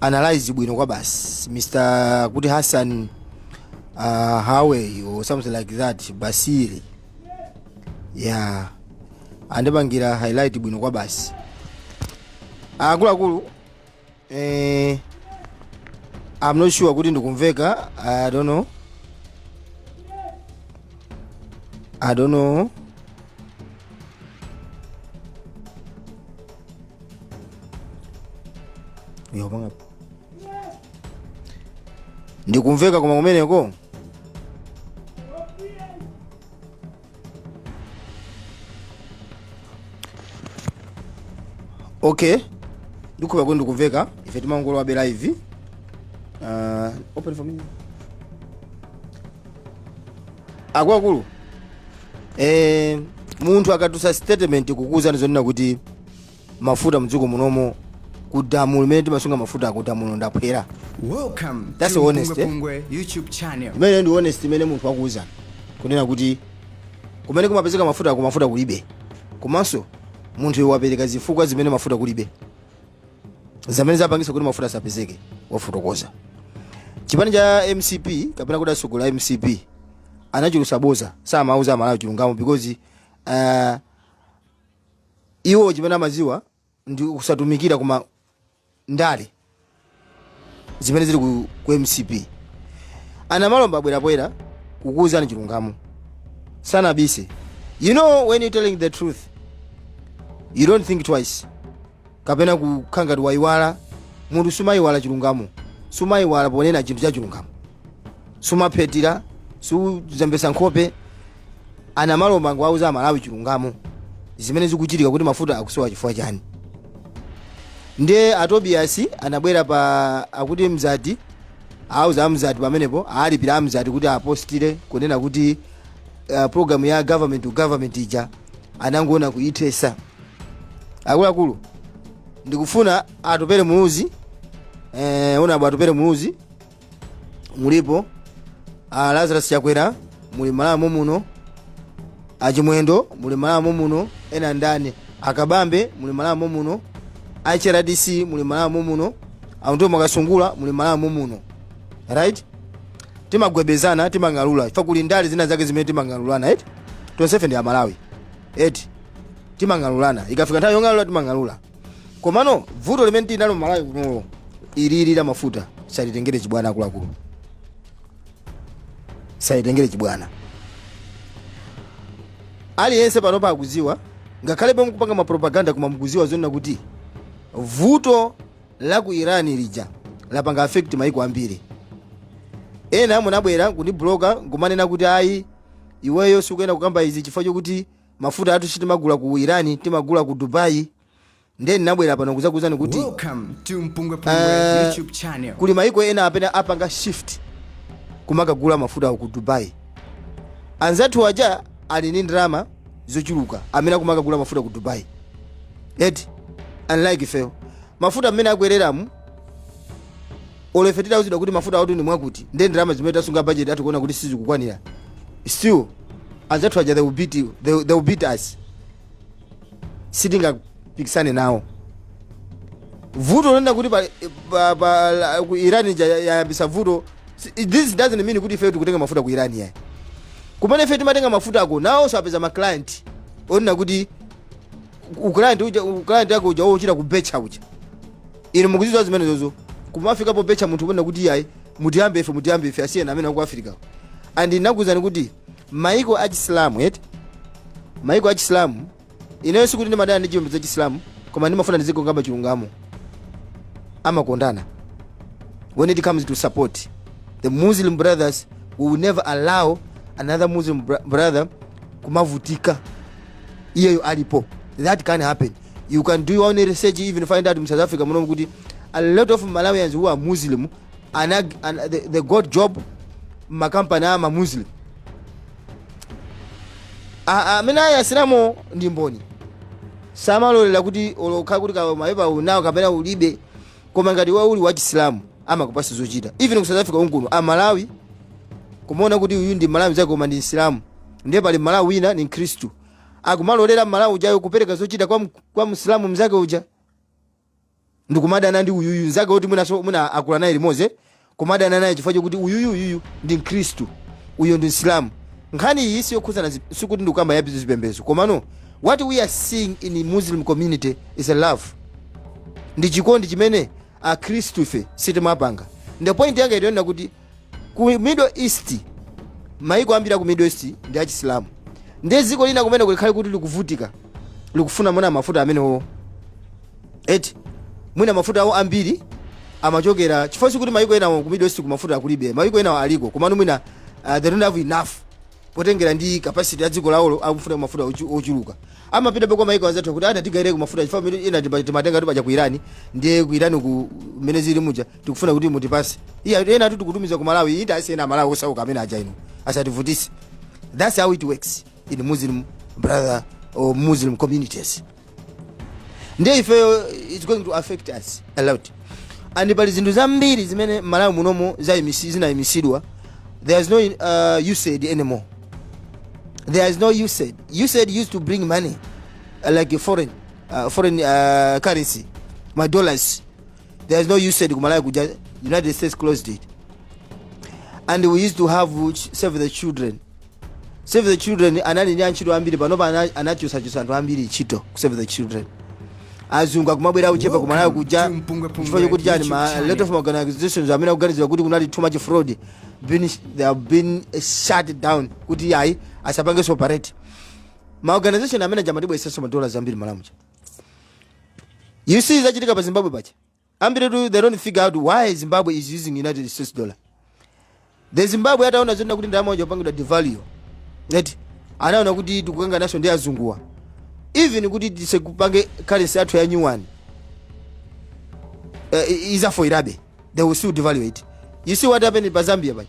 analyze bwino kwabasi mr kuti hassan uh, hawey or something like that basi yeah andipangira highlight bwino kwabasi akuluakulu eh, i'm not sure kuti ndikumveka i don't know i don't know Yo banga. Ndikumveka koma kumeneko. Okay. Ndikuwona kuti ndikumveka. Ife timangolowabe live. Uh, open for me. Akuluakulu. Eh, munthu akatulutsa statement kukuuzani zonena kuti mafuta mdziko munomu ku damu limene timasunga mafuta ku damulo ndi aphwera Welcome That's to honest, eh? Pungwe YouTube channel. imene ndi honest imene munthu wakuuza kunena kuti kumene kumapezeka mafutako mafuta kulibe komanso munthuyo wapereka zifukwa zimene mafuta kulibe zimene zapangisa kuti mafuta asapezeke wafotokoza chipani cha mcp kapena kuti atsogoleri a mcp anachulusa boza samauza amalawi chilungamo because uh, iwo chimene amaziwa ndi kusatumikira koma ndale zimene zili ku, ku mcp a namalomba abwera poyera kukuwuzani chilungamo sanabise you know when you telling the truth you don't think twice kapena kukhala ngati wayiwala munthu sumayiwala chilungamo sumayiwala ponena chinthu cha chilungamo sumaphethira suzembesa nkhope a namalomba angowauza amalawi chilungamo zimene zikuchitika kuti mafuta akusowa chifukwa chani ndiye a tobiyasi anabwera pa akuti mzati auza amzati pamenepo alipira amzati kuti apostire kunena kuti uh, programu ya government to government ija anangowina kuithesa akuluakulu ndikufuna atupele muluzi eh, honourable atupele muluzi mulipo a lazarus chakwera muli malawi muno a chimwendo muli malawi muno ena ndani a kabambe muli malawi muno hrdc muli malawi muno a undule mwakasungula muli malawi muno right timagwebana timang'alula chifukwa kuli ndale zina zake zimene timang'alulana right tonsefe ndi amalawi eti timang'alulana ikafika nthawi yong'alula timang'alula komano vuto limene tinalo malawi kuno ili la mafuta salitengere chibwana akuluakulu salitengere chibwana aliyense panopa akuziwa ngakhale pomwe mukupanga mapropaganda koma mukuziwa zonena kuti vuto la ku irani lija lapanga affect maiko ambiri ena munabwera kundibloka nkumanena kuti ayi iweyo sikuyenera kukamba izi chifukwa chokuti mafuta athu sitimagula ku iran timagula ku dubai ndiye ndinabwera pano kudzakuuzani kuti Welcome to Mpungwe Pungwe Eh, YouTube channel. kuli maiko ena amene apanga shift kumakagula mafuta awo ku dubai anzathu aja ali ndi ndalama zochuluka amene akumakagula mafuta ku dubai eti unlike ifeyo mafuta mmene akwereramu olo ife titauzidwa kuti mafuta awatu ndi mwakuti nde ndalama zimene tasunga budget athu kuona kuti sizikukwanira still anzathu aja they will beat you they, will- they will beat us sitingapikisane nawo vuto lonena kuti pa, pa, pa, la- ku iran ija ya- yayambisa vuto si- this doesn't mean kuti ife tikutenga mafuta ku iran yayi kumene ife timatenga mafuta ako nawonso apeza ma client onena kuti u- client uja u- client wako uja wochita kubecha uja inu mukuzidziwa zimenezo kumafika pobecha munthu kunena kuti iyayi mutiyambe ife mutiyambe ife asiyeni amene aku africa and ndinakuwuzani kuti maiko a chisilamu eti maiko a chisilamu ineyo sikuti ndimadana ndi chipembedzo cha chisilamu koma ndimafuna ndizingokamba chilungamo amakondana when it comes to support the muslim brothers we will never allow another muslim br brother kumavutika iyeyo alipo that can't happen You can do your own research, even find out in South Africa, munomu kuti a lot of Malawians who are Muslim, anag, an, they, they got job makampani ama Muslim. A- Amene ayi asilamu ndi mboni. samalolera kuti olo akhale kuti kawe mapepa unawo kapena ulibe koma ngati iwe uli wachisilamu amakupasa zochita even ku south africa konkuno mmalawi kumaona kuti uyu ndi mmalawi mnzake koma ndi msilamu ndiye pali mmalawi wina ni mkhristu akumalolera mmalawi ujayo kupereka zochita kwa, mk- kwa msilamu mzake uja ndikumadana ndi uyuyu mzake woti mwinaso mwina akula naye limodzi eh? kumadana naye chifukwa chokuti uyuyu uyuyu ndi mkhristu uyo ndi msilamu nkhani iyi siyokhudzana zi- sikuti ndikukamba ya zipembedzo komano what we are seeing in muslim community is a love ndi chikondi chimene akhristu ife sitimapanga nde point yanga ndi yonena kuti ku middle east maiko ambiri aku middle east ndi achisilamu ndiye dziko lina kumene kulikhale kuti likuvutika likufuna mwina mafuta amenewo eti mwina mafuta awo ambiri amachokera chifukwa sikuti maiko enawo ku middle east mafuta kulibe maiko enawo aliko komano mwina uh, they don't have enough potengera ndi capacity ya dziko lawo akufuna mafuta ochu- ochuluka amapita kwa maiko anzathu kuti ana tigaireko mafuta chifukwa mene ina tipa- timatenga kuti paja ku irani ndiye ku irani ku mene zili muja tikufuna kuti mutipase iya ena tu tikutumiza ku malawi inde asiyeni amalawi osauka amene aja inu asativutitse that's how it works in muslim brother or muslim communities ndiye ifeyo it's going to affect us a lot and pali zinthu zambiri zimene malawi munomo zaimisi- zinayimisidwa there is no uh, usaid anymore there is no usaid usaid used to bring money uh, like a foreign uh, foreign uh, currency ma dollars there is no usaid kumalawi kuja united states closed it and we used to have ch- save the children save the children anali ndi antchito ambiri panopa ana- anachotsachotsa anthu ambiri ntchito ku save the children azungu akumabwera kuchepa kumalawi kuja chifukwa chokuti chani a lot of organizations amene akuganizira kuti kunali too much fraud been, they have been eh, shut down kuti ayi asapangenso operate ma organization amene aja amatibweretsanso madola ambiri malawi muja You see zachitika pa Zimbabwe paja. Ambiri tu they don't figure out why Zimbabwe is using United States dollar. The Zimbabwe ataona zoona kuti ndalama yawo ija ikupangidwa devalue. Right? Anaona kuti tikukangananso ndi azunguwa. Even kuti tiseku pange currency yathu ya new one. Uh, izafoilabe. They will still devalue it. You see what happened pa Zambia paja.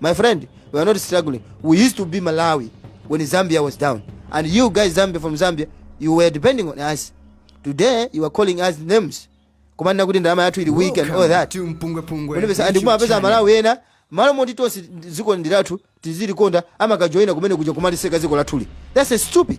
My friend, we are not struggling. We used to be Malawi when Zambia was down. And you guys, Zambia from Zambia, you were depending on us. Today, you are calling us names. Kumanena kuti ndalama yathu ili weak and all that. Umapeza and kumapeza aMalawi ena, malo moti tonse dziko ndi lathu tizilikonda amakajoyina kumene kuja kumaliseka dziko lathuli. That's stupid.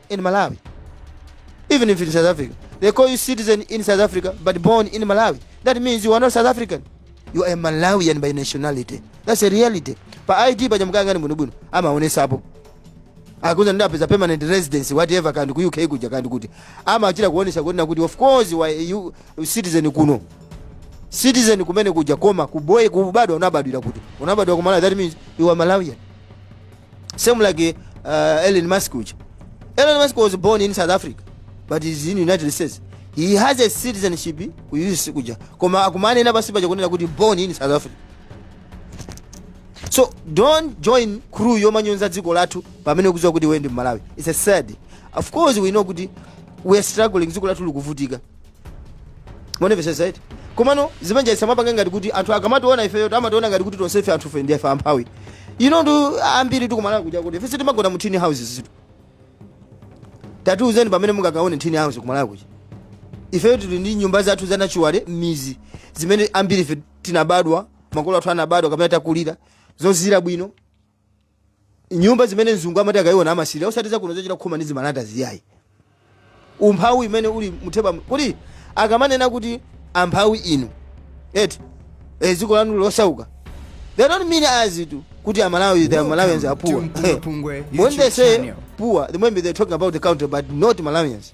in malawi even if in south africa they call you citizen in south africa but born in malawi that means you are not south african you are a malawian by nationality that's a reality pa id paja mukayang'ana bwinobwino amaonesapo akuuza ndapeza permanent residence whatever kaya ndi ku uk kuja kaya ndi kuti amachita kuonesa kunena kuti of course wa you citizen kuno citizen kumene kuja koma kuboye kubadwa unabadwira kuti unabadwa ku malawi that means you are malawian same like uh, Elon Musk uja Elon Musk was born in South Africa but he's in United States he has a citizenship ku US kuja koma akumanena pansi paja kunena kuti born in South Africa so don't join crew yomanyonza dziko lathu pamene ukuziwa kuti iwe ndi mmalawi it's sad of course we know kuti we are struggling dziko lathu likuvutika mundimvesesa eti komano zimanja isamapange ngati kuti anthu akamationa ifeyo amationa ngati kuti tonsefe anthufe ndife amphawi you know anthu ambiritu kumalawi kuja kuti ife sitimagona mu tin houses tu tatiuzeni pamene mungakaone tin house kumalawi kuja ifeyo tili ndi nyumba zathu za natural m'mizi zimene ambiri ife tinabadwa makolo athu anabadwa kapena takulira zozira bwino nyumba zimene mzungu amati akayiona amasirira osati zakuno zochita khoma ndi zimalatazi yayi umphawi imene uli mutheba kuti akamanena kuti amphawi inu eti e, dziko lanu losauka they don't mean as it kuti amalawi the malawians are poor Welcome to Mpungwe Pungwe when they YouTube say channel. poor they maybe they talking about the country but not malawians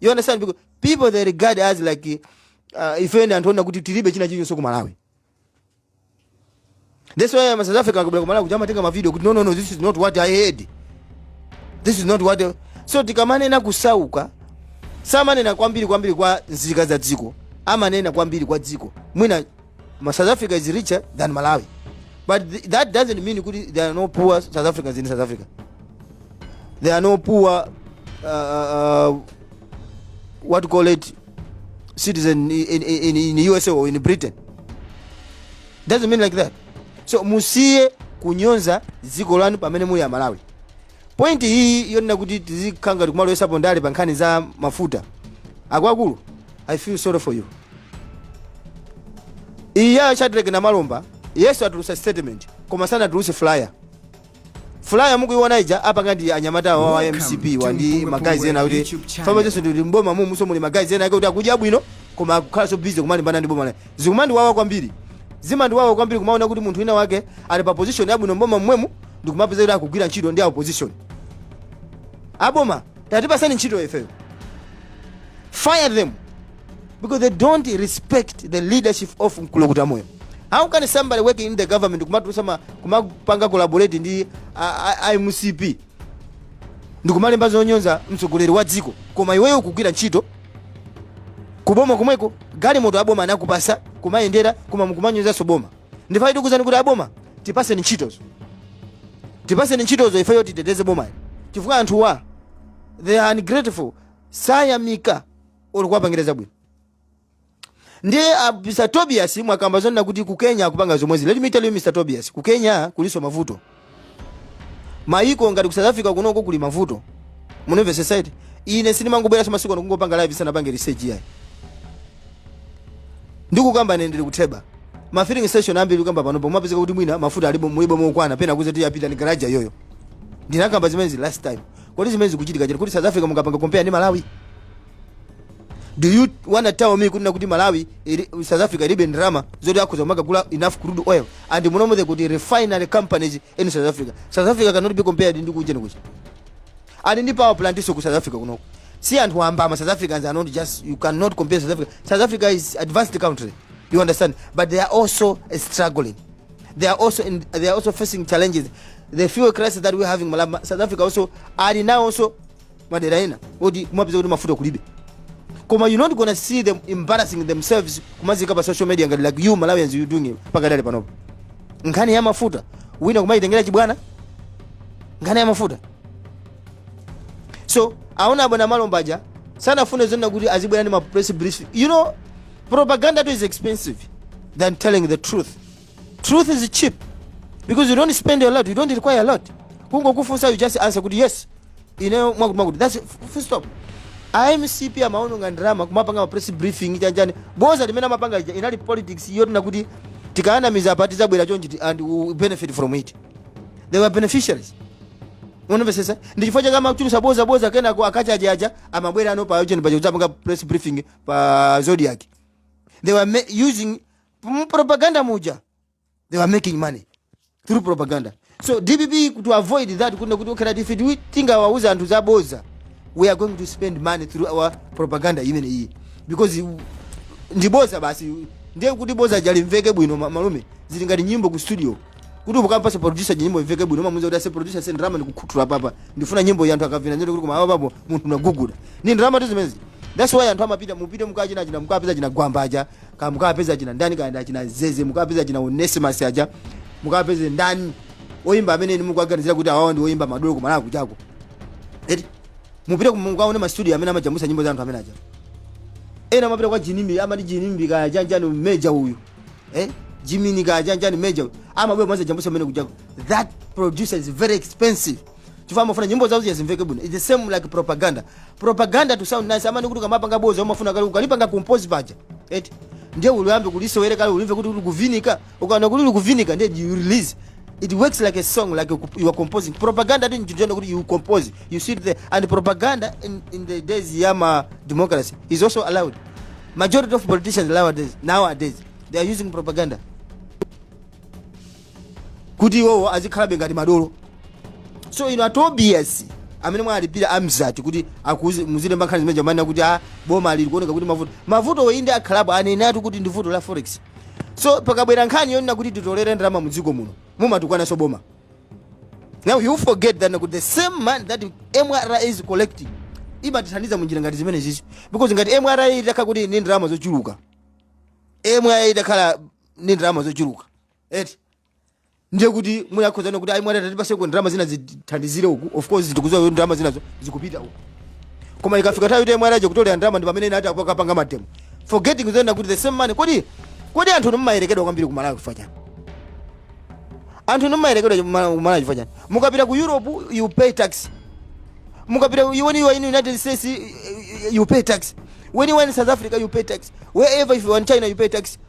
you understand because people they regard as like uh, ife ndi anthu onena kuti tilibe china chilichonse ku malawi that's why ma south africa akabwera ku malawi kuja amatenga mavideo kuti no no no this is not what i heard this is not what I... so tikamanena kusauka samanena kwambiri kwambiri kwa nzika za dziko amanena kwambiri kwa dziko mwina ma south africa is richer than malawi but th that doesn't mean kuti there are no poor south africans in south africa there are no poor uh, uh, what you call it citizen in, in, in usa or in britain doesn't mean like that so musiye kunyoza dziko lanu pamene muli amalawi point iyi yonena kuti tizikhala ngati kumalowesapo ndale pa nkhani za mafuta akuluakulu i feel sorry for you eya shadrack namalomba yes atulutsa statement koma sanatulutse flyer Flyer mukuiona ija apanga ndi anyamata awawa a mcp wa ndi ma guys ena kuti famba chonse ndi mboma mumunso muli ma guys ena ake kuti akudya bwino koma akukhala so busy kumalimbana ndi boma la zikumandiwawa kwambiri zimandiwawa kwambiri kumaona kuti munthu wina wake ali pa position yabwino mboma mmwemu ndikumapeza kuti akugwira ntchito ndi a opposition aboma tatipasani ntchito ifeyo fire them because they don't respect the leadership of mkulukuta moyo how can somebody working in the government kumatulusa ma- kumapanga collaborate ndi a- a- a mcp ndikumalemba zonyoza mtsogoleri wa dziko koma iweyo ukugwira ntchito kuboma komweko galimoto aboma anakupasa kumayendera koma mukumanyozanso boma ndiye ife tikuuzani kuti aboma tipaseni ntchitozo tipaseni ntchitozo ifeyo titeteze bomalo chifukwa anthuwa they are ungrateful sayamika olo kuwapangira zabwino ndiye ah, mr tobias mwakamba zonena kuti ku kenya akupanga zomwezi let me tell you mr tobias ku kenya kulinso mavuto mayiko ngati ku south africa kunoko kuli mavuto mundimvesesa eti ine sindimangobweranso masiku ano kungopanga live ndisanapange research yayi ndikukamba ine ndili kutheba ma filling station ambiri kukamba panopo mumapezeka kuti mwina mafuta alibe mulibe okwana pena akuuza kuti ya pita ni garaja iyoyo ndinakamba zimenezi last time Kodi zimene zikuchitika chete kuti South Africa mungapanga compare ndi Malawi? Do you wanna tell me kuti nakuti Malawi ili, South Africa ilibe ndalama zoti akhoza kumakagula enough crude oil and munomo the kuti refinery companies in South Africa. South Africa cannot be compared ndi kujeni kuja. Ali ndi power plant nso ku South Africa kunoko. Si anthu wamba ama South Africans are not just you cannot compare South Africa. South Africa is advanced country. You understand? But they are also struggling. they are also in, they are also facing challenges the fuel crisis that we having malawi south africa also ali nawo also madera ena oti kumapeza kuti mafuta kulibe koma you not gonna see them embarrassing themselves kumaziika pa social media ngati like you malawians you doing it pakadali panopo nkhani ya mafuta musakumayitengera chibwana nkhani ya mafuta so awona abwana namalomba aja sanafune zonena kuti azibwera ndi ma press brief you know propaganda tu is expensive than telling the truth truth is cheap because you don't spend a lot you don't require a lot kungokufunsa you just answer kuti yes ineyo mwakuti mwakuti that's full stop amcp amaononga ndalama kumapanga ma press briefing chanjani boza limene amapanga ija inali politics yoti nakuti tikaanamiza apa tidzabwera chonchi and we benefit from it they were beneficiaries ukumvesesa ndichifukwa chake amachulusa boza boza kenako aKachaje aja amabwera ano pa ujeni paja kudzapanga press briefing pa zodiac they were using mu propaganda muja they were making money through propaganda so dpp to avoid that kunena kuti okay that if we tingawauza anthu zaboza we are going to spend money through our propaganda imene iyi because you- ndi boza basi ndiye kuti boza lija limveke bwino ma- malume zili ngati nyimbo ku studio kuti ukampasa producer nyimbo imveke bwino umamuuza kuti ase producer ase ndrama ndikukhuthula papa ndifuna nyimbo ya anthu akavina nyimbo kuti koma awa papo munthu unaguguda ndi ndalama tu zimenezi that's why anthu amapita mupite mukachina china mukapeza china gwamba aja ka mukapeza china ndani kaenda china zeze mukapeza china onesimus aja mukapeza ndani oyimba amene inu mukuaganizira kuti awawa ndi oyimba madolo kumalawi kuchako eti mupite mukaone mastudio amene amajambulitsa nyimbo za anthu amene aja ena amapita kwa jinimbi amati jinimbi kaya chanjani meja uyu eh? jimini kaya chanjani meja uyu amabwera nkuzajambulitsa amene kuchako that producer is very expensive chifukwa amafuna nyimbo zawo zija zimveke bwino its the same like propaganda propaganda to sound nice i mean kuti ukamapanga boza umafuna kaye ukalipanga compose paja eti ndiye uliyambe kulisewera kaye ulimve kuti likuvinika ukaona kuti likuvinika ndiye you release it works like a song like you you are composing propaganda ndi nchintchito kuti you compose you sit there and propaganda in, in the days ya ma democracy is also allowed majority of politicians nowadays nowadays they are using propaganda kuti iwowo azikhalabe ngati madolo so inu atobias amene mwalipira amzati kuti akuzi- muzilemba nkhani zimezija amanena kuti a boma alili kuoneka kuti mavuto mavuto oyinde akhalapo anenatu kuti ndi vuto la forex so pakabwera nkhani yonena kuti titolere ndalama mu dziko muno mumatukwananso boma now you forget that kuti the same money that mra is collecting imatithandiza munjira ngati zimene zizi because ngati mra itakhala kuti ni ndalama zochuluka mra itakhala ni ndalama zochuluka eti ndiye kuti mwina akhoza kuona kuti ayi mwina atatipatsako ndalama zina zithandizire uku of course tikudziwa kuti ndalama zinazo zikupita uku koma ikafika nthawi yoti mwanaje kutolera ndalama ndi pamene inu ati tikapanga mademo forgetting zonena kuti the same money kodi kodi anthu inu mumayerekedwa kwambiri kumalawi chifukwa chani anthu inu mumayerekedwa kuma- kumalawi chifukwa chani mukapita ku europe you pay tax mukapita ku- when you are in united states eh, eh, you pay tax when you are in south africa you pay tax wherever if you are in china you pay tax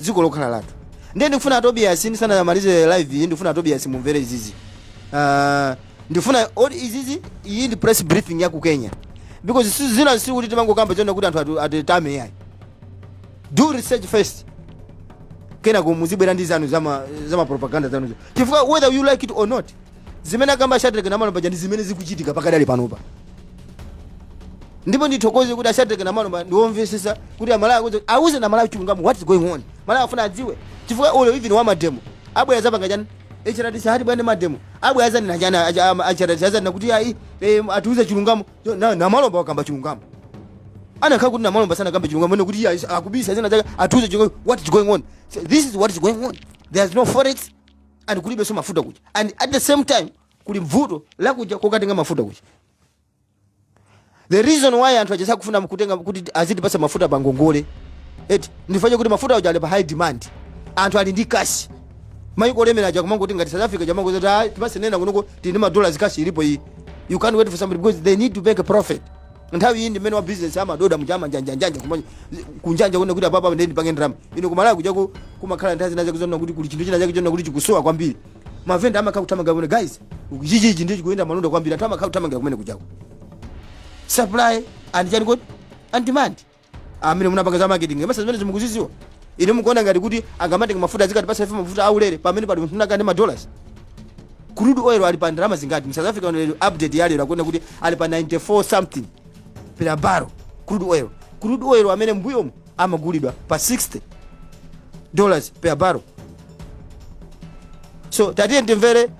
dziko lokhalo lathu ndiye ndikufuna atobiyasi ndisanamalize live iyi ndikufuna atobiyasi mumvere izizi Ah, ndifuna oti izizi iyi ndi press briefing ya ku kenya because si- zina si kuti timangokamba chonena kuti anthu atu- atitame yayi do research first kenako muzibwera ndi zanu zama, zama propaganda zanuzo chifukwa whether you like it or not zimene akamba a shadreck namalomba ndi zimene zikuchitika pakadali panopa ndipo ndithokoze kuti a shadreck namalomba ndiwomvetsetsa kuti amalawi akuti auze amalawi chilungamo what is going on amalawi afuna adziwe chifukwa olo even wa mademo abwera azapanga chani hrdc ati bwanji mademo abwera azanena chani hrdc azanena kuti ayi eh, atiuze chilungamo Yo, na- namalomba wakamba chilungamo anakakhala kuti namalomba sanakamba chilungamo anene kuti iye akubisa zina zake atiuze chilungamo what is going on So this is what is going on there is no forex and kulibenso mafuta kuja and at the same time kuli mvuto lakuja kokatenga mafuta kuja the reason why anthu aja sakufuna kutenga kuti azitipasa mafuta pa ngongole eti ndi chifukwa choti mafuta aja ali pa high demand anthu ali ndi kashi mayiko olemera aja akumangoti ngati south africa akumangowauza kuti ayi tipatseni kunoko tili ndi madollars kashi ilipo iyi you can't wait for somebody because they need to make a profit nthawi iyi ndi mmene wa business amadoda mujamu amanjanjanjanja kuma kunjanja kuona kuti apapa ndiye ndipange ndalama inu kumalawi kujaku kumakhala nthawi zina zake zoona kuti kuli chinthu china chake choona kuti chikusowa kwambiri mavenda amakhala kuthamanga kumene guys chichichi ndiye chikuyenda malonda kwambiri anthu amakhala kuthamangira kumene kujaku supply and chani kodi and demand amene munapanga za marketing mass zimenezi mukuzidziwa inu mukuona ngati kuti akamatenga mafuta azikatipasa ife mafuta aulere pamene pali munthu wina akane ma dollars crude oil ali pa ndalama zingati mu south africa lero update ya lero akuona kuti ali pa 94 something per barrel crude oil crude oil amene mbuyomu amagulidwa pa 60 dollars per barrel so tatiyeni timvere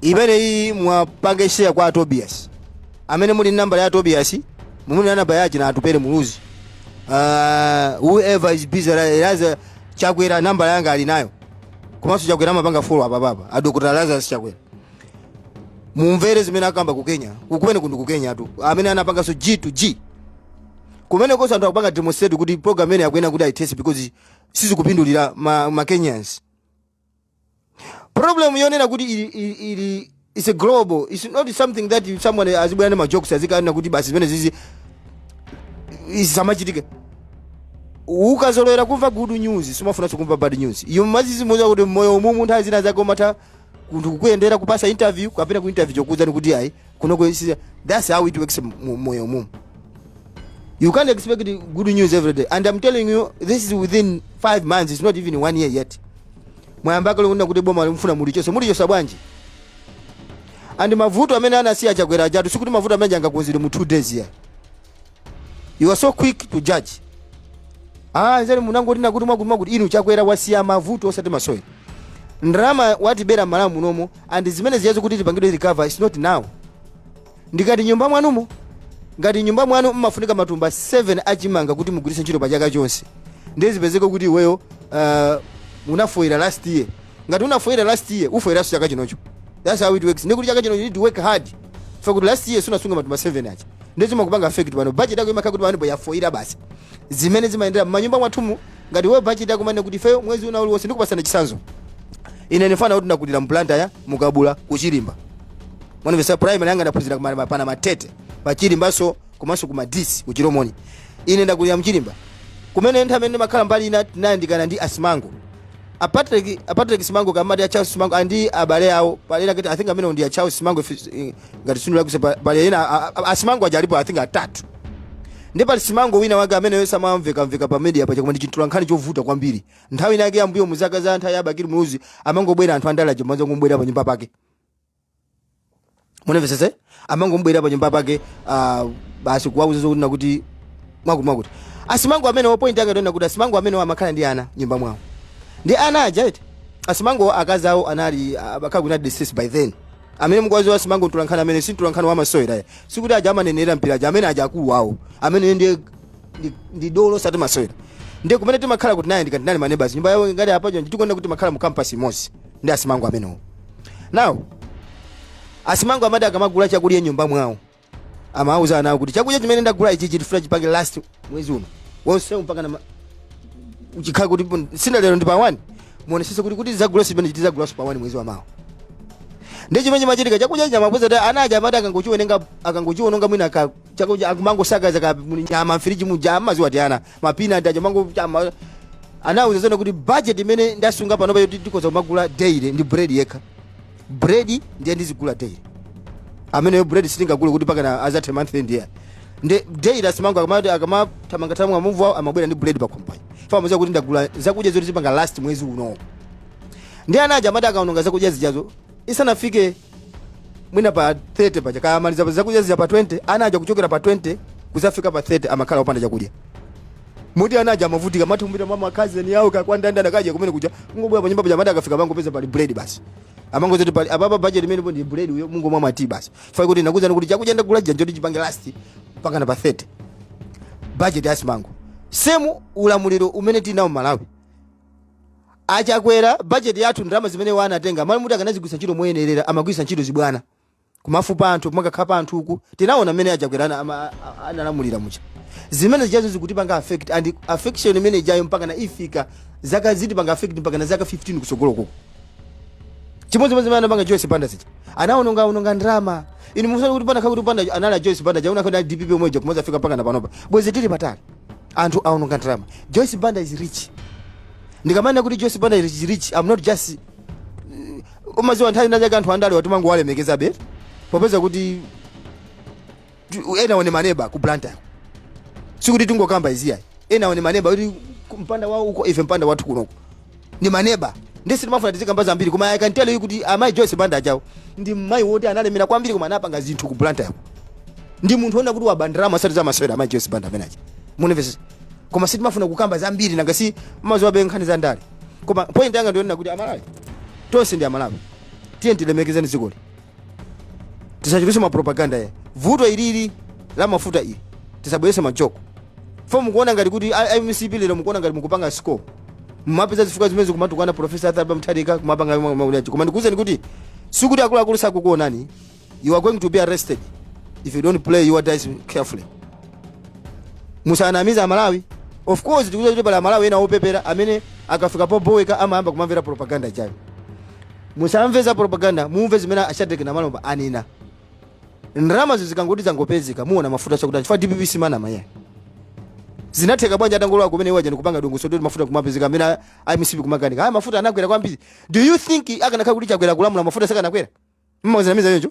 Imeneyi muwapange share kwa a Tobias. Amene muli nambala ya a Tobias, muli ndi namba ya achina Atupele Muluzi. Uh, whoever is busy Lazarus Chakwera nambala yanga ali nayo. Komanso Chakwera amapanga follow apapa. A Dr. Lazarus Chakwera. Mumvere zimene akamba ku Kenya. Uku kumeneku ndi ku Kenyatu. Amene anapanganso G to G. Kumenekonso anthu akupanga demonstrate kuti program imeneyi akunena kuti aithetse because sizikupindulira ma, ma Kenyans. problem yonena kuti ili, ili, ili it's a global it's not something that you- someone azibwera ndi majokes azikanena kuti basi zimenezizi zisamachitike ukazolowera kumva good news sumafunanso kumva bad news iwe umaziziuza kuti mmoyo mumu nthawi zina zake umatha kunthu kukuyendera kupasa interview kapena ku interview chokuuzani kuti ayi kunoko that's how it works mu moyo mumu you can't expect good news every day and i'm telling you this is within 5 months it's not even one year yet mwayamba kale kunena kuti bomali mufuna mulichotse mulichotse bwanji and mavuto amene anasiya Chakwera ajatu sikuti mavuto amene angakonzedwe mu 2 days yeah you are so quick to judge ah nzani munangoti nakuti mwakuti mwakuti inu Chakwera wasiya mavuto osati masewera ndalama watibera m'Malawi munomo and zimenezizo kuti tipangidwe recover is not now ndi ngati m'nyumba mwanumo ngati m'nyumba mwanu mmafunika matumba 7 a chimanga kuti mugwiritse ntchito pa chaka chonse ndiye zipezeke kuti iweyo uh, unafoira last year ngati unafoira last year ufoiranso chaka chinocho that's how it works nde kuti chaka chinocho you need to work hard fa kuti last year sunasunga matumba 7 aja ndiye zimakupanga affect pano budget yako imakhala kuti panopo yafoira basi zimene zimayendera m'manyumba mwathumu ngati iwe budget yako umanena kuti ifeyo mwezi wina uliwonse ndikupatsani chitsanzo ine ndi mfana woti ndakulira m'Blantyre mu Kabula ku Chirimba mwandimvetsa primary yanga ndaphunzira kumana pa Namatete pa Chirimbanso komanso ku madisi ku Chilomoni ine ndakulira m'Chirimba kumene nthawi imene ndimakhala mbali ina tinayandikana ndi a Simango a Patrick a Patrick Simango kaya amati a Charles Simango and abale awo pali ena kati I think amene ndi a Charles Simango if it's- eh, ngati sindinalakwitse pali ena a- a- a Simango aja alipo I think atatu ndiye pali Simango wina wake amene yonse amamveka mveka pa mediapa cha koma ndi chimtolankhani chovuta kwambiri nthawi inayake yambuyo muzaka za nthawi ya Bakili Muluzi amangobwera anthu andale aja mwanzo kumubwerera pa nyumba pake mundimvetsetse amangomubwerera pa nyumba pake ah, basi kuwauza zokunena kuti mwakuti mwakuti a Simango amenewo point yake ndi yonena kuti a Simango amenewo amakhala ndi ana m'nyumba mwawo ndi ana aja eti a Simango akazi awo anali amakhala kuti anali deceased by then amene mukuwadziwa a Simango mtolankhani amene si mtolankhani wa masewera yeah sikuti aja amanenera mpira aja amene aja akulu awo amene ndiye ndi- ndi dolo osati masewera ndiye kumene timakhala kuti tinayandikana tinali ma neighbours nyumba yawo ngati apacho ndikunena kuti timakhala mu campus imodzi ndi asimango amenewo nawo asimango amati akamagula chakudya mnyumba mwawo amawuza ana awo kuti chakudya chimene ndagula ichi tifuna chipange last mwezi uno wonse mpaka na ma- chikhala kuti pun- sina lero ndi pa 1 muonesese kuti kuti zagula zimene chitizagulaso pa 1 mwezi wa mawa ndi chimene chimachitika chakudya chamapoza ta ana aja amati akangochiwonenga akangochiwononga mwina ka chakudya akumangosakaza kaya muli nyama mfiriji muja amaziwa kuti ana mapina ndaja mango chama anauza zona kuti budget imene ndasunga pano pa yoti tikhoza kumagula daily ndi bread yekha bread ndiye ndizigula daily ameneyo bread sitingagule kuti mpakana azathe month end ayi nde daily asimango akamati akamathamanga thamanga mu move awo amabwera ndi bread pakhomo paja fa amaziwa kuti ndagula zakudya zoti zipanga last mwezi uno ndi ana aja amati akaononga zakudya zijazo isanafike mwina pa 30 paja kaya amaliza zakudya zija pa 20 ana aja kuchokera pa 20 kuzafika pa 30 amakhala opanda chakudya moti ana aja amavutika amati kumapita mwa ma cousin awo kaya kwa ndanda ndakaja kumene kuja kungobwera pa nyumba paja amati akafika amangopeza pali bread basi amangozoti pali apapa budget imene ndi bread uyo mungomwa ma tea basi fai kuti nakuuzani kuti chakudya ndagula chija kuti chipange last mpakana pa 30 budget ya asimango same ulamuliro umene tinawo malawi achakwera bajeti yathu ndalama zimene iwo anatenga mmalo moti akanazigwiritsa ntchito moyenerera amagwiritsa ntchito zibwana kumafupa anthu kumakakhapa anthu uku tinaona mmene achakwera ana- ama- a- analamulira muja zimene zijazo zikutipanga affect and affection imene ijayo mpaka na ifika zaka zitipanga affect mpaka na zaka 15 kusogolo kuko chimodzimodzi zimene anapanga joyce banda zija anaononga ononga ndalama inu musana kuti pana khakuti banda anali a joyce banda jauna khakuti a dpp omwe aja kumazafika mpaka na panopa bwezi tili patali anthu aononga ndalama joyce banda is rich ndikamanena kuti joyce banda is rich i'm not just umaziwa nthawi inayake anthu andale awa timangowalemekezabe popeza kuti tu- enawo ndi maneba ku blantyre sikuti tingokamba izi ayi enawo ndi maneba kuti ku- mpanda wawo uko ife mpanda wathu kunoko ndi maneba ndi sitimafuna tizikamba zambiri koma i can tell you kuti amayi joyce banda ajawo ndi mmayi woti analemera kwambiri koma anapanga zinthu ku blantyre yako ndi munthu wonena kuti wapanga ndalama asati zamasewera amayi joyce banda amene aja mundimvesese koma sitimafuna kukamba zambiri nanga si maziwabe nkhani za ndale koma point yanga ndi yonena kuti amalawi tonse ndi amalawi tiyeni tilemekezeni zikoli tisachitise mapropaganda ayi vuto ilili la mafuta ili tisabwerese ma joke fo mukuona ngati kuti a- a mcp lero mukuona ngati mukupanga score mmapeza zifukwa zimene zikumatukwana profesa arthur mutharika kumapanga ma- ma- unachi. koma ndikuwuzeni kuti sikuti akuluakulu sakukuonani you are going to be arrested if you don't play your dice carefully musanamize amalawi of course tikuziwa kuti pali amalawi ena opepera amene akafika poboweka amayamba kumamvera propaganda ijayo musamve za propaganda mumve zimene ashadrek namalomba anena ndalama zikangoti zangopezeka muona mafuta chakuti chifukwa dpp simanama eya zinatheka bwanji atangolowa kumene iwo aja ndikupanga dongosolo kuti mafuta kumapezeka amene a- a mcp kumakanika eya mafuta anakwera kwambiri do you think akanakhala kuti chakwera kulamula mafuta sakanakwera mukuzinamiza choncho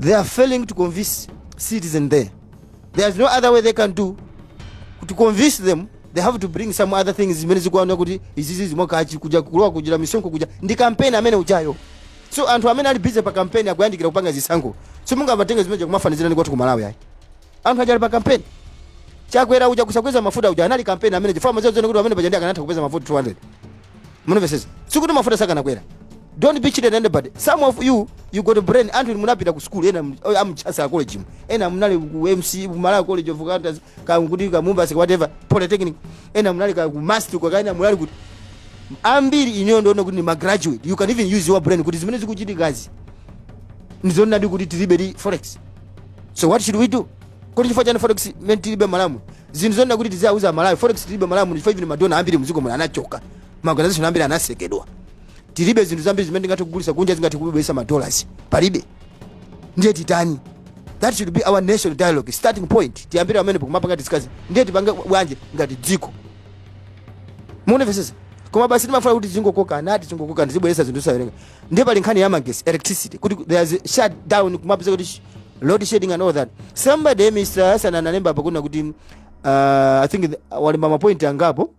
they are failing to convince citizens there there is no other way they can do to convince them they have to bring some other things zimene mukuona kuti izizi zimokachi kuja kulowa kuchita misonkhano kuja ndi kampeni amene ujayo so anthu amene ali busy pa kampeni akuyandikira kupanga zisankho so musamatenge zimenezo kumafanizira ndi kwathu ku malawi ayi anthu aja ali pa kampeni chakwera uja kusakweza mafuta uja anali kampeni amene uja chifukwa mazezo kuti pamene paja ndiye akanatha kupeza mafuta 200 mukunamvesesa sikuti mafuta sakanakwera don't be cheated anybody some of you you got a brain anthu inu munapita ku school ena amchasa a college ena munali ku mca ku malawi college of accountancy kaya kuti kaya mubas kaya whatever polytechnic ena munali kaya ku must kaya ena munali kuti ambiri ineyo ndimaona kuti ni magraduate you can even use your brain kuti zimene zikuchitikazi ndizonadi kuti tilibedi forex so what should we do kuti chifukwa chani forex imene tilibe malawi mu zinthu zonena kuti tiziauza amalawi forex tilibe malawi muno chifukwa even madona ambiri mdziko muno anachoka maorganization ambiri anatsekedwa tilibe zinthu zambiri zimene tingathe kugulisa kunja zingathe kubweresa madollars palibe ndiye titani that should be our national dialogue starting point tiyambire pamenepo kumapanga discuss ndiye tipange bwanji ngati dziko mukunamvesesa koma basi timafuna kuti tingokokana ati tingokokana tizibweresa zinthu zosawerengeka ndiye pali nkhani ya magesi electricity kuti there is shut down kumapeza kuti sh- load shedding and all that somebody mr hassan analemba apa kunena kuti uh, i think the- walemba mapoint angapo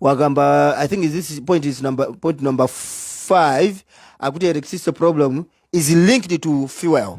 wakamba i think this point is number point number 5 akuti electricity problem is linked to fuel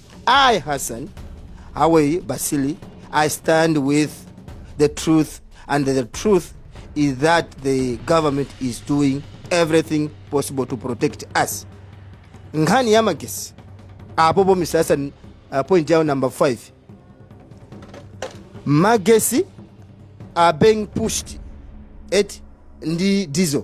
I, Hassan Hawi Basili, I stand with the truth, and the truth is that the government is doing everything possible to protect us. Nkhani ya magesi apopo Mr. Hassan uh, point yao number 5 magesi are being pushed eti ndi diesel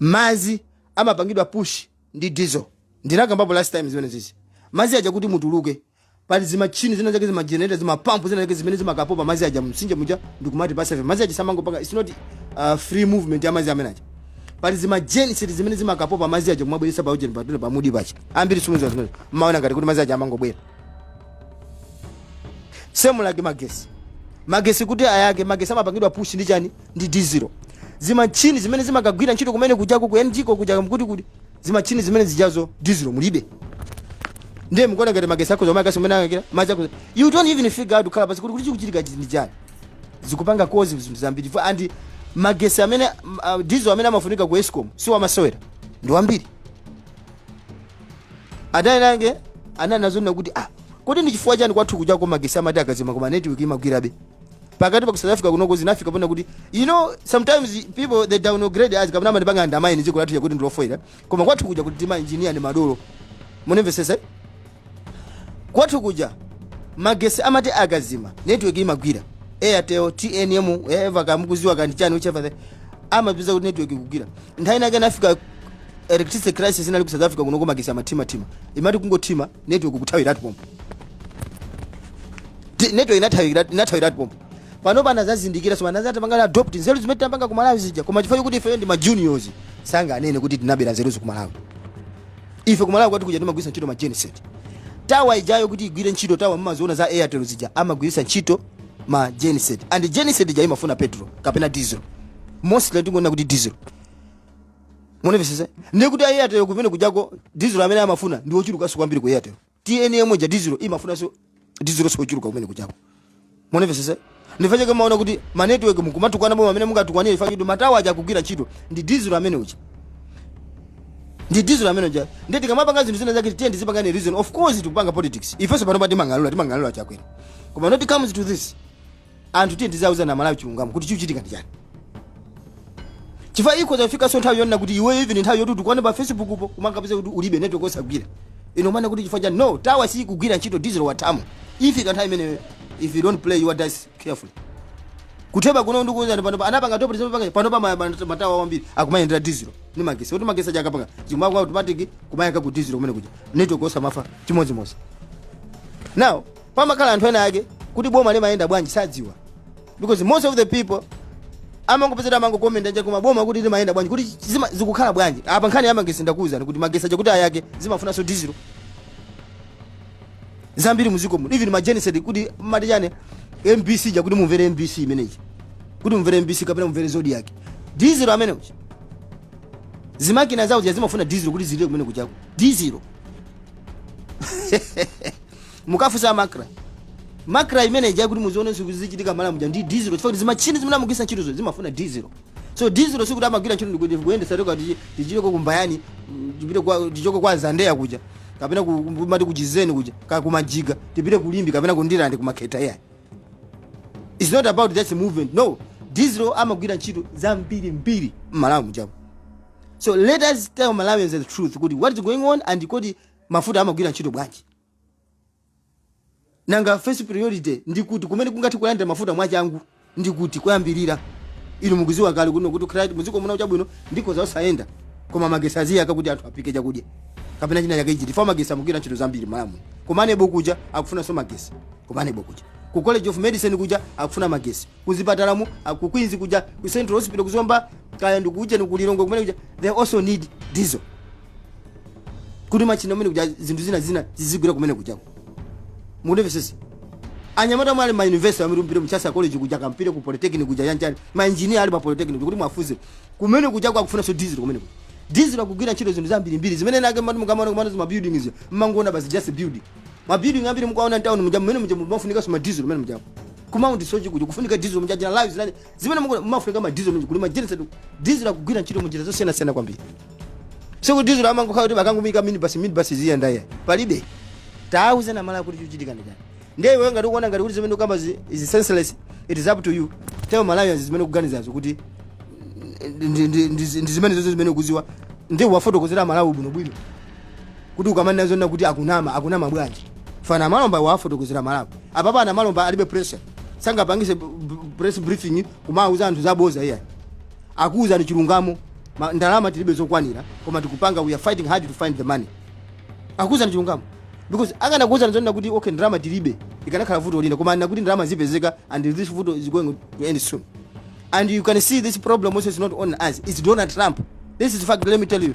mazi amapangidwa push ndi diesel ndinakambapo last time zimene zizi mazi aja kuti atuluke pali zimatchini zina zake zimagenerator zimapampu zina zake zimene zimakapopa mazi aja msinje muja ndikumatipasa ife mazi aja samangopanga it's not uh, free movement ya mazi amene aja pali zimageniseti zimene zimakapopa mazi aja kumabweresa pa ujeni patu- pamudzi paja ambiri simuziwa zimene mumaona ngati kuti mazi aja amangobwera same like magesi magesi kuti ayake magesi amapangidwa push ndi chani ndi diesel zimatchini zimene zimakagwira ntchito kumene kujako ku egenco kuja nkuti kuti zimatchini zimene zijazo diesel mulibe ndiye mukuona ngati magesi akewo mwayaka si mmene angayakire magesi akewo you don't even figure out kukhala pansi kuti kodi chikuchitika chi- ndi chani zikupanga kozi zinthu zambiri Fo- and magesi amene uh, diesel amene amafunika ku escom si wamasewera ndi wambiri anali winanso amanena kuti ah kodi ndi chifukwa chani kwathu kujako magesi amati akazima koma network imagwirabe pakati pa ku south africa kunoko zinafika pona kuti you know sometimes people they downgrade us kapena amatipanga undermine dziko lathu lija kuti ndi lofoira koma kwathu kuja kuti tima engineer ni madolo munimvesese kwathu kuja magesi amati akazima network imagwira airtel tnm whatever kaya mukuziwa kaya ndi chani whichever the amapeza kuti network ikugwira nthawi inake inafika electricity crisis inali ku south africa kunoko magesi amathima thima imati kungothima network kuthawiratu pompo Ti- network inathawiratu inathawiratu pompo panopa anazazindikira so pano anazatipanga adopt nzeru zimene tapanga ku Malawi zija koma chifukwa kuti ife ndi ma juniors sanganene kuti tinabera nzeru ku Malawi ife ku Malawi kwathu kuja timagwiritsa ntchito ma genset tawa ijayo kuti igwire ntchito tawa mumaziona za airtel zija amagwiritsa ntchito ma genset and genset ija imafuna petrol kapena diesel mostly tingonena kuti diesel munimvesese ndiye kuti airtel kumene kujako dizilo amene amafuna ndi ochulukanso kwambiri ku airtel tnm ija dizilo imafunanso dizilo so ochuluka kumene kujako munimvesese nchifukwa chake kumaona kuti ma network mukumatukwana boma mmene mungatukwanire chifukwa chake kuti matawa aja akugwira ntchito ndi dizilo amene uja ndi dizilo amene uja ndiye tikamapanga zinthu zina zake tiye tizipanga ndi reason of course tikupanga politics ifenso pano pa timang'alula timang'alula chakwera koma not comes to this anthu tiye tizauzana amalawi chilungamo kuti chikuchitika ndi chani chifukwa ikhoza kufikanso nthawi yonena kuti iweyo even nthawi yoti utukwane pa facebook po umangopeza kuti ulibe network osagwira iwe umanena kuti chifukwa chani no tawa sikugwira ntchito diesel wathamo ifika nthawi imeneyo if you don't play your dice carefully kutheba kuno ndikuuzani pano anapanga adopt reserve panga pano pa ma- ma- matawa wambiri akumayendera diesel ni magesi kuti magesi aja akapanga chimwa kwa automatic kumayaka ku diesel kumene kuja network osamafa chimodzimodzi now pamakhala anthu ena ake kuti boma limayenda bwanji sadziwa because most of the people amangopezera amangokomenta nje koma boma kuti limayenda bwanji kuti zima- zikukhala bwanji apa nkhani yamagesi ndakuwuzani kuti magesi aja kuti ayake zimafunanso dizilo zambiri muziko muno even ma genset kuti amati chani mbc ija kuti mumvere mbc imene ija kuti mumvere mbc kapena mumvere zodiak dizilo amene uja zimakina zawo zija zimafuna dizilo kuti zilire kumene kujako dizilo mukafunsa macra macra imene ija kuti muzione zinthu zichitika mmalawi muja ndi diesel chifukwa kuti zimatchini zimene amagwisa ntchitozo zimafuna diesel so diesel sikuti amagwira ntchito ndikuti kuyendesa toka tichi- tichoke kumbayani mm, tipite kwa tichoke kwa zandeya kuja kapena ku- ku- amati kuujeni kuja kaya kumajiga tipite kulimbe kapena kundirande kumakhetha ayi it's not about just movement no diesel amagwira ntchito zambiri mbiri mmalawi mujamo so let us tell malawians the truth kuti what is going on and kodi mafuta amagwira ntchito bwanji nanga first priority ndi kuti kumene kungathe kulandira mafuta mwachangu ndi kuti koyambirira inu mukuziwa kale kuno kuti kukhala kuti muziko muna chabwino ndikhoza osayenda koma magesi aziyaka kuti anthu aphike chakudya kapena china chake ichi tifa magesi amagwira ntchito zambiri Malawi ku MANEB kuja akufunanso magesi ku MANEB kuja ku college of medicine kuja akufuna magesi kuzipatalamu ah, ku Queens kuja ku Central Hospital ku Zomba kaya ndi kuujeni ku Lilongwe kumene kuja they also need diesel kuti machina kumene kuja zinthu zina zina zizigwira kumene kujako mundimvesese anyamata mwali ma university amene mupite Chancellor College kuja kaya mupite ku polytechnic kuja yang'anani ma engineer ali pa polytechnic kuti muwafunse kumene kuja akufunanso diesel kumene kuja diesel akugwira ntchito zinthu zambiri mbiri zimene nake mati mukamaona kumano zima buildings mmangoona basi just a building ma building ambiri mukaona mtauni muja mmene muja mumafunikanso ma diesel mmene muja ku Mount Soche kuja kufunika diesel muja zima lifts nani zimene mukuona mumafunika ma diesel muja kuli ma generator diesel akugwira ntchito munjira zosiyana siyana kwambiri sikuti diesel amangokhala kuti bakangumika minibus minibus ziyenda iya palibe tauzeni aMalawi kuti chikuchitika ndi chani ndiye iwe ngati ukuona ngati kuti zimene ukamba zi- is senseless it is up to you tell malawians zimene ukuganizazo kuti ndi- ndi- ndi- ndi zimene zonse zimene ukuziwa ndiye uwafotokozere aMalawi bwinobwino kuti ukamanena zonena kuti akunama akunama bwanji a Namalomba wafotokozere aMalawi apapa a Namalomba alibe pressure sangapangise b- b- press briefing kumawuza anthu zaboza iya akuwuzani chilungamo Ma- ndalama tilibe zokwanira koma tikupanga we are fighting hard to find the money akuwuzani chilungamo because akanakuwuzani zonena kuti okay ndalama tilibe ikanakhala vuto lina koma anena kuti ndalama zipezeka and this vuto is going to end soon and you can see this problem also is not on us it's donald trump this is fact let me tell you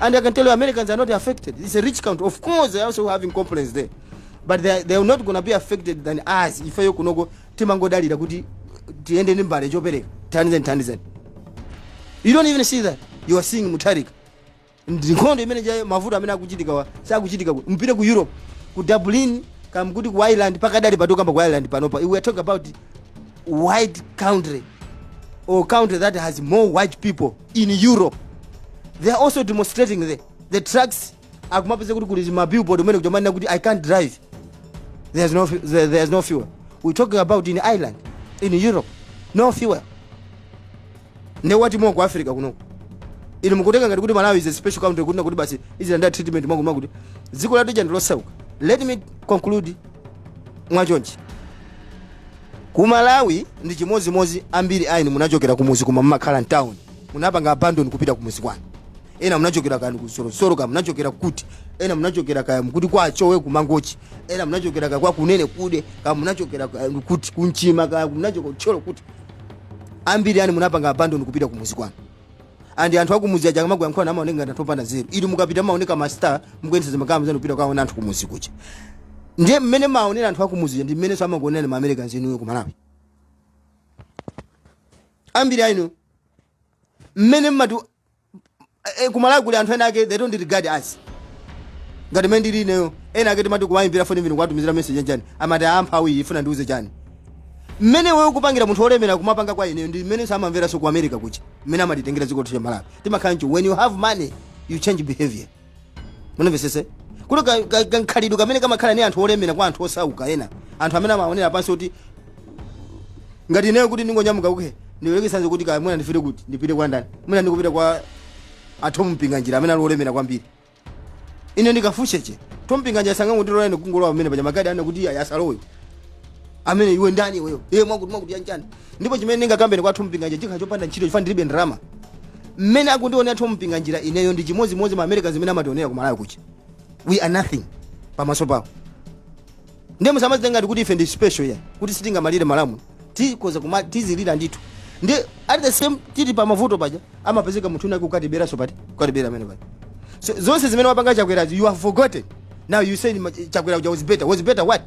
And I can tell you Americans are not affected. It's a rich country. Of course, they are also having complaints there. But they are, they are not going to be affected than us. Ife kunoko timangodalira kuti tiende ndi mbale chopereka thandizeni thandizeni. You don't even see that. You are seeing Mutharika. Ndi nkhondo imene ija mavuto amene akuchitikawa sakuchitika mupite ku Europe ku Dublin kaya mkuti ku Ireland pakadali pano tikukamba ku Ireland panopa. We are talking about white country or country that has more white people in europe they are also demonstrating the, the trucks akumapeza kuti kuli ma billboard kumene kuja amanena kuti i can't drive there's no, fu- there, there's no fuel we talking about in ireland in europe no fuel nde what more ku africa kunoko inu mukutenga ngati kuti malawi is a special country kuti nakuti basi izilandira treatment mwakuti mwakuti dziko lathu lija ndilosauka let me conclude mwachonchi Ku Malawi ndi chimodzimodzi ambiri ainu munachokera kumudzi koma mumakhala mtown munapanga abandon kupita kumudzi kwanu ena munachokera kaya ku Sorosoro kaya munachokera kuti ena munachokera kaya mkuti kwa Chowe ku Mangochi ena munachokera kaya kwa Kunenekude kaya munachokera kaya kuti ku Nchima kaya munachokera ku Thyolo kuti ambiri ainu munapanga abandon kupita kumudzi kwanu andi anthu akumudzi aja akamakuyankhulani amaoneka ngati anthu opanda nzeru inu mukapita mumaoneka ma star mukuyendetsa zimagalimoto zanu kupita kwaona anthu kumudzi kuja ndiye mmene maonera anthu akumudzi aja ndi mmenenso amakuonerani ma americans inuyo ku malawi ambiri a inu mmene mmati eh, ku malawi kuli anthu ena ake they don't regard us ngati mmene ndili ineyo ena ake timati kuwayimbira foni olo kuwatumizira message chani amati amphawi ifuna indiuze chani mmene wewe ukupangira munthu olemera kumapanga kwa ineyo ndi mmene amamveranso ku america kuja mmene amatitengera dziko lathu la malawi timakhala ncho when you have money you change behavior mumvesese kuti ka- ka- kakhalidwe kamene kamakhala ni anthu olemera kwa anthu osauka ena anthu amene amaonera pansi kuti ngati ineyo kuti ndingonyamuka kuke ndiyerekeze kuti kaya mwina ndifire kuti ndipite kwa ndani mwina ndikupita kwa a thom mpinganjira amene ali olemera kwambiri ine ndikafucheche thom mpinganjira sangangondilola ine kungolowa pamene paja magadi anena kuti ayi asalowe amene iwe ndani iweyo iye mwakuti mwakuti yanjani ndipo chimene ndingakambe kwa thom mpinganjira chikhala chopanda ntchito chifukwa ndilibe ndalama mmene akundiona a thom mpinganjira ineyo ndi chimodzimodzi ma americans mmene amationera ku malawi kuti we are nothing pamaso pawo ndiye musamazitenga ngati kuti ife ndi special ya kuti sitingamalire malamulo tikhoza kuma tizilira ndithu ndi at the same time tili pa mavuto paja amapezeka munthu winawake akatiberanso pati ukatibera amene pati so, zonse zimene wapanga chakwerazi you have forgotten now you say ma- chakwera uja was better was better what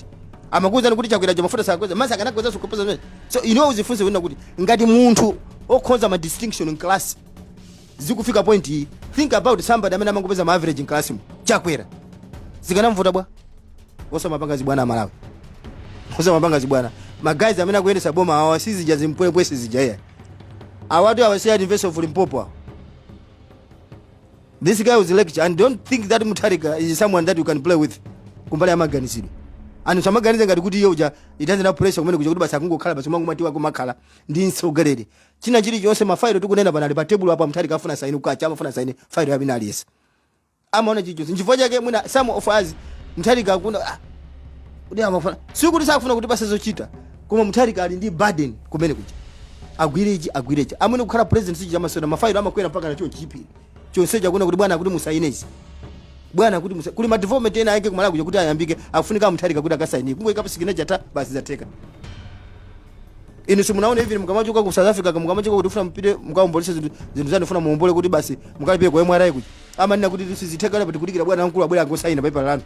amakuwuzani kuti chakwera uja mafuta sakweza masa akanakweza zokuposa zimene so you know uzifunse wina kuti ngati munthu okhoza ma distinction in class zikufika point iyi think about somebody amene amangopeza ma average mclass mu chakwera zikanamvuta bwanji osamapanga zibwana amalawi osamapanga zibwana ma guys amene akuyendesa boma awa sizija zimpwepwe sizija iya awatu awasiya university of limpopo awa this guy was a lecturer and don't think that mutharika is someone that you can play with kumbali ya maganizidwe anthu asamaganize ngati kuti iye uja alibe pressure kumene kuja kuti basi akungokhala basi mwangomati wa kumakhala ndi mtsogoleri china chilichonse mafailo tikunena pano ali pa tebulo apo amtharika afuna saini kukacha m'mawa amafuna saini failo ya wina aliyense amaona chilichonse nchifukwa chake mwina some of us mtharika akuona ah, kuti amafuna si kuti sakufuna kuti apatse zochita koma mtharika ali ndi burden kumene kuja agwire ichi agwire ichi amene kukhala president si chamasewera mafailo amakwera mpaka na chonchi chipiri chonsecho akuona kuti bwana akuti musaine izi bwana kuti musa kuli ma development ena ake ku malawi kuja kuti ayambike afunika mtharika kuti akasainike kungoikapo signature cha basi zatheka inu simunaone even mukamachoka ku south africa ka mukamachoka kuti mufuna mupite mukaombolese zinthu zinthu zanu mufuna muombole kuti basi mukalipire ku mra kuti amanena kuti sizitheka lero pati kudikira bwana wamkulu abwera angosaina pepala lanu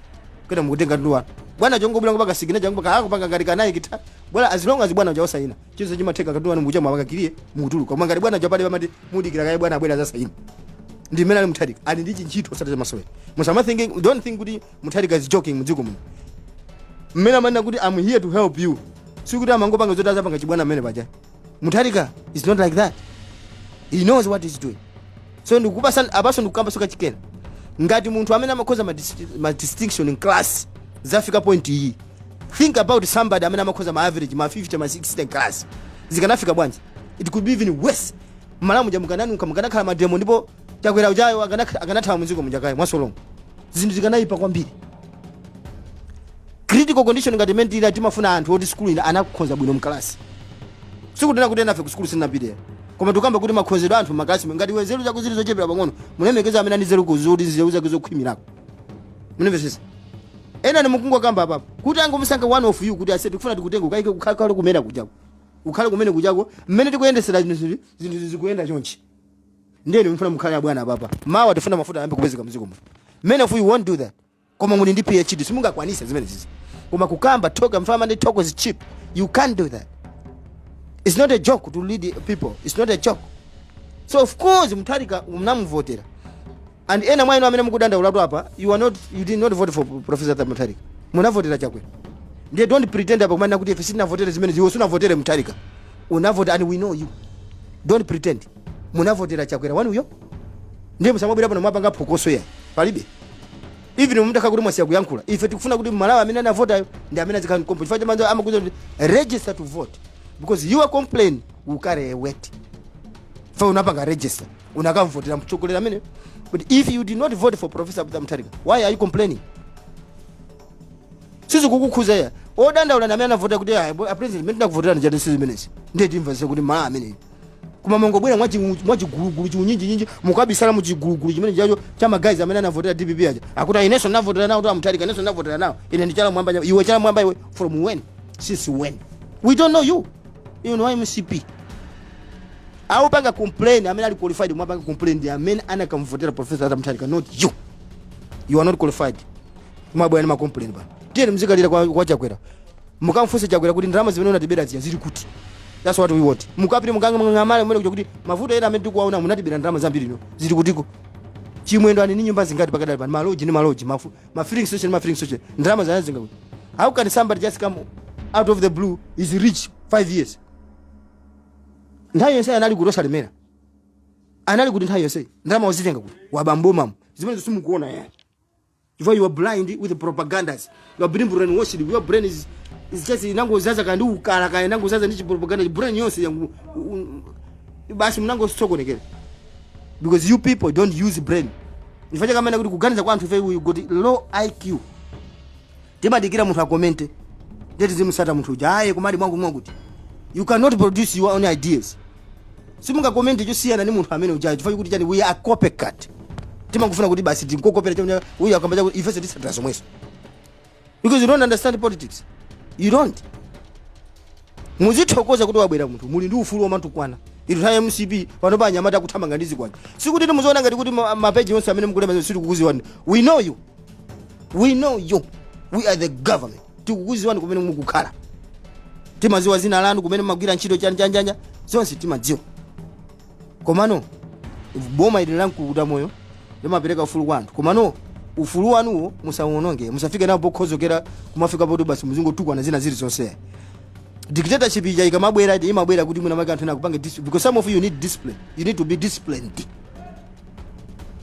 kenako mukutenga katundu wanu bwana chongobwera kupanga signature yangu paja akupanga ngati kanayi kita bwana as long as bwana uja wasaina chinthu chimatheka katundu wanu mukucha mwapakira mukutuluka koma ngati bwana uja palibe amati mudikire kaye bwana abwere azasaine ndi mmene ali mutharika ali ndi chintchito osati chamasewera musama think don't think kuti mutharika is joking mdziko muno mmene amanena kuti I'm here to help you sikuti amangopanga zoti azapanga chibwana mmene paja mutharika is not like that he knows what he's doing so ndikupasa apaso ndikukamba soka chikena ngati munthu amene amakhoza ma dis- ma distinction in class zafika point iyi think about somebody amene amakhoza ma average ma 50 ma 60 in class zikanafika bwanji it could be even worse Malawi muja mukana mukanakhala mademo ndipo chakwera ujayo akanakh- akanathawa mudziko muja kaye mwasolomo zinthu zikanayipa kwambiri critical condition ngati imene tili timafuna anthu oti sukulu ina anakhoza bwino mkalasi sikunena kuti enafe ku sukulu sinapite koma tikukamba kuti makhozedwe a anthu mmakalasi mu ngati iwe nzeru zako zili zochepera pang'ono umalemekeza amene ali nzeru kuti nzeru zake zokhwimirako mundimvetsetse ena inu mukungokamba apapo kuti angomusankha one of you kuti ase tikufuna tikutenge tikakuike ukakhale kumene kujako ukakhale kumene kujako mmene tikuyendetsera zinthu zinthu zikuyenda chonchi ndiye inu tikufuna mukhale abwana apapa mawa tifuna mafuta ayambe kupezeka mdziko muno many of you won't do that koma muli ndi phd simungakwanitse zimenezi koma kukamba talk paja amati talk is cheap you can't do that it's not a joke to lead people it's not a joke so of course mutharika ndinamuvotera And ena mwa inu amene mukudandaulatu apa you are not you did not vote for Professor Arthur Mutharika. Munavotera Chakwera. Ndiye don't pretend apa kumanena kuti ife sitinavotere zimene iwe sunavotere Mutharika. Unavota and we know you. Don't pretend. Munavotera Chakwera wanuyo. Ndiye musamabwera pano mwapanga phokoso ya. Palibe. Even mumtaka kuti mwasiya kuyankhula. Ife tikufuna kuti Mmalawi amene anavotayo ndi amene azikhala mkombo. Chifukwa Chamanza amakuuza kuti register to vote because your complaint will carry a weight. Chifukwa unapanga register. unakamvotera mtsogoleri amene but if you did not vote for professor arthur mutharika why are you complaining sizikukukhuza adandaule ndi amene anavota kuti "Ah, bo- a president zimene tinakuvoterani si zimenezi ndiye timvetsa kuti mmalawi ameneyu koma mumangobwera mwachigulugulu chiunyinjinyinji mukabisala muchigulugulu chimene chijacho cha ma guys amene anavotera dpp aja akuti "Ah, inenso ndinavotera nawotu amutharika inenso ndinavotera nawo ine ndi chala mmwamba nyama." iwe chala mmwamba iwe from when since when we don't know you you know mcp Opanga complain amene ali qualified kumapanga complain ndi amene anakamvotera Professor Arthur Mutharika not you. You are not qualified. Kumabwera ndi ma complain apa. Tiyeni mzikalira kwa, kwa Chakwera. Mukamfunse Chakwera kuti ndalama zimene unatibera zija zili kuti. That's what we want. Mukapite mukangamale mmene kuja kuti mavuto ena amene tikuwaona munatibera ndalama zambiri inu. Zili kutiko. Chimwendo ali ndi nyumba zingati pakadali pano maloji ndi maloji ma fi- ma filling station ma filling station ndalama zake anazitenga kuti how can somebody just come out of the blue is rich 5 years nthawi yonse amalemera kuti osalemera amalemera kuti nthawi yonse ndalama wazitenga kuti waba mommo zimenezo simukuona yani chifukwa you are blind with the propagandas you are being brainwashed your brain is is just inangodzadza kaya ndi ukala kaya inangodzadza ndi chipropaganda brain yonse yanu u- u- basi munangosokonekera because you people don't use brain ndi chifukwa chake amanena kuti kuganiza kwa anthufe we got low iq Timadikira munthu akomente ndiye tizimutsata munthu uja eya kumati mwakuti mwakuti you cannot produce your own ideas simungakomente chosiyana ndi munthu amene ujayo chifukwa chakuti chani we are copycat timangofuna kuti basi tinkokopera chomwe uyu akamba zakuti ifenso titsatira zomwezo because you don't understand politics you don't Muzithokoza kuti wabwera munthu muli ndi ufulu omatukwana inu nthawi ya mcp panopa anyamata akuthamanga ndi zikwanje sikuti tumuziona ngati kuti ma- mapeji onse amene mukulemba sitikukuziwani we know you we know you we are the government tikukuziwani kumene mukukhala timadziwa dzina lanu kumene mumagwira ntchito chanjanjanja zonse timadziwa komano boma ili la mkukuta moyo limapereka ufulu kwa anthu komano ufulu wanuwo musauononge musafike nawo pokhozokera kumafika poti basi muzingotukwana zina ziri zonse dictatorship ija ikamabwera it imabwera kuti mwina make anthu ena akupange discipline because some of you need discipline you need to be disciplined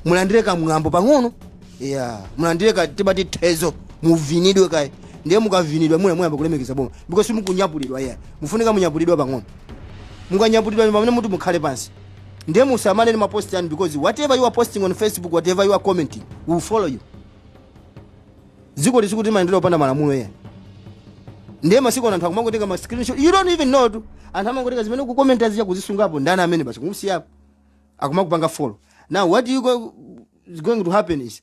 mulandire kamwambo pang'ono yeah. mulandire ka tibatitezo muvinidwe kaye ndiye mukavinidwa muna muyamba kulemekeza boma because mufunika munyapulidwa yeah. mufunika munyapulidwa pang'ono mukanyapulidwa ndi pamene muti mukhale pansi ndiye musamale ndi mapost anu because whatever you are posting on facebook whatever you are commenting will follow you dziko ili sikuti limayendera opanda malamulo ena ndiye masiku ano anthu akumangotenga ma screenshot you don't even know tu anthu amangotenga zimene mukukomenta zija kuzisungapo ndani ameneyu basi kumusiyapo akumakupanga follow now what you go, is going to happen is